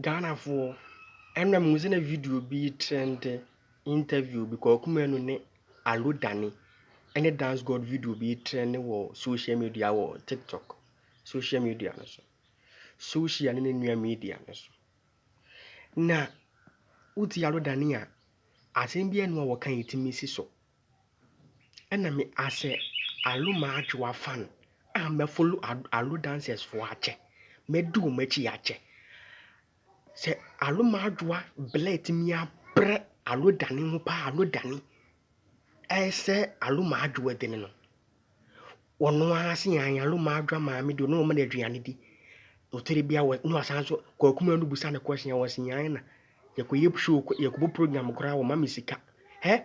Ghanafoɔ, ɛna mehu sɛ na video bi retrɛnde, interview bi, Kwaku Manu ne Alo Dane ne Dance God video bi retrɛnde wɔ social media wɔ TikTok social media no so. Social ne ne nua media no so. Na wotie Alo Dane a, asɛm biara nni hɔ a wɔka a ɛtumi si so. Ɛna me as a Alo m'adwowa fan a mɛ follow Alo dancers foɔ akyɛ. Mɛ di wɔn akyi akyɛ. Sɛ Alo m'adwowa blɛ tumi abrɛ Alo dani ho paa Alo dani ɛsɛ Alo m'adwowa dini no. Wɔn ara se yan Alo m'adwowa maame di wɔn wɔn de aduane di. Otire bia wɔ no asan so kɔ akuma no busa ne question wɔ se yan na. Yɛkɔ yɛ show yɛkɔ bɔ program koraa wɔn ma me sika. Hɛ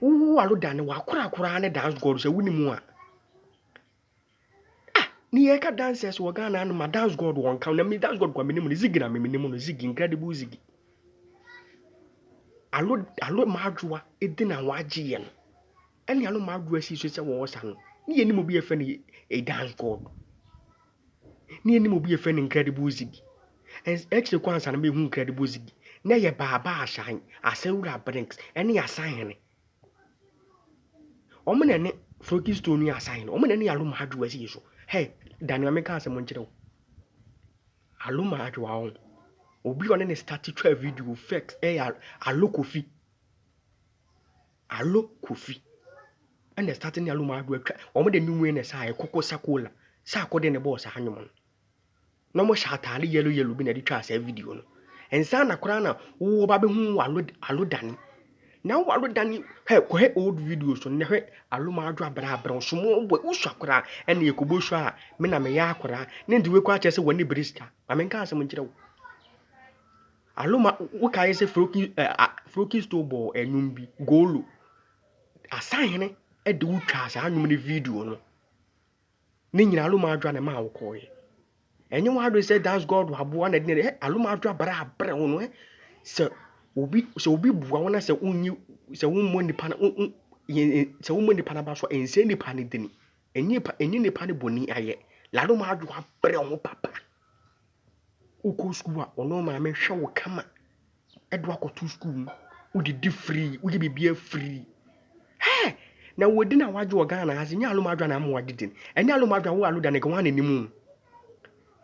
Wowo w'ano da no w'akorakoraa ne dance god sɛ wonni mu a. Ah ne yɛ ka dancers wɔ Ghana ano ma dance god wɔn ka na mi dance god kwa mi ne mu no zigi na mi mi ne mu no zigi incredible zigi. Alo alo ma adwoa edi na w'agye yɛ no. Ɛne alo ma adwoa si so sɛ wɔwɔ sa no. Ne yɛ ne mu bi yɛ fɛ ne a dance god. na yenim obi a yɛfrɛ no Incredible Ziggy. Akyire kɔ ansa na mehu Incredible Ziggy, na ɛyɛ Baaba Asae, Asawura Brinks, ɛne Asahene. Wɔn na ɛne Froggy Stone ne Asahene, wɔn na ɛne Aloma Adwoa si so. Hɛ, da nea meka asɛm nkyerɛ wo. Aloma Adwoa wɔn, obi a ɔne ne start twa video fɛks ɛyɛ Alokofi. Allo Kofi na ɛstate ne Allo Maado atwa, wɔn de nnwom yi na ɛsaa yɛ Koko Sakola, Saako de ne bɔɔ saa nnwom no. Na wɔhyɛ ataade yellow yellow bi na ɛde twaa saa video no. Nsa na koraa na wowɔ ba bɛhu Allo Allo Dani. Na wo Allo Dani hɛ kɔhɛ old videos no na hwɛ Allo Maado abrɛ abrɛ wo small boy wosua koraa ɛna yɛkɔbɔ sua a me na meyɛ akoraa ne nti wei koraa kyerɛ sɛ w'ani bere sika. Ma menka asɛm nkyerɛ wo. Aloma wokae sɛ Froki ɛ a Frokisto bɔɔ nnwom bi, Golo. Asahene de wo twaa saa nnwom no video no. Ne nyinaa Aloma adwa na ɛmaa wokɔeɛ. Ɛnyɛ w'adwene sɛ dance god waboa na ɛde na ɛde ɛ Aloma adwa bara abrɛ wo no ɛ sɛ obi sɛ obi boa wo na sɛ wonyi sɛ wommɔ nipa no wo wo yɛn sɛ wommɔ nipa no aba so a ɛnsɛ nipa no dini. Ɛnyɛ nipa ɛnyɛ nipa no bɔni ayɛ. Laloma adwa abrɛ wo papa. Wokɔ sukuu a, ɔno maame hwɛ wo kama de wo akɔto sukuu mu. Wodidi free, woyɛ biribiara free. Hey! Na wadi na wagye wɔ Ghana ha se nyɛ aloma adwa na ama wadidi no. Ɛnyɛ aloma adwa wo alo da ne gwa na nim no.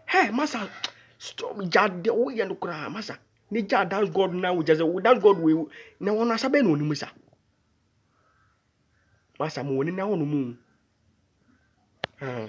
Hey, masa stop gya de woyɛ no koraa masa. Ne gya dance God na wo gya sɛ dance God wei na wɔn asa bɛn na onim sa. Masa mo wɔ ne na hɔ no mu. Ah.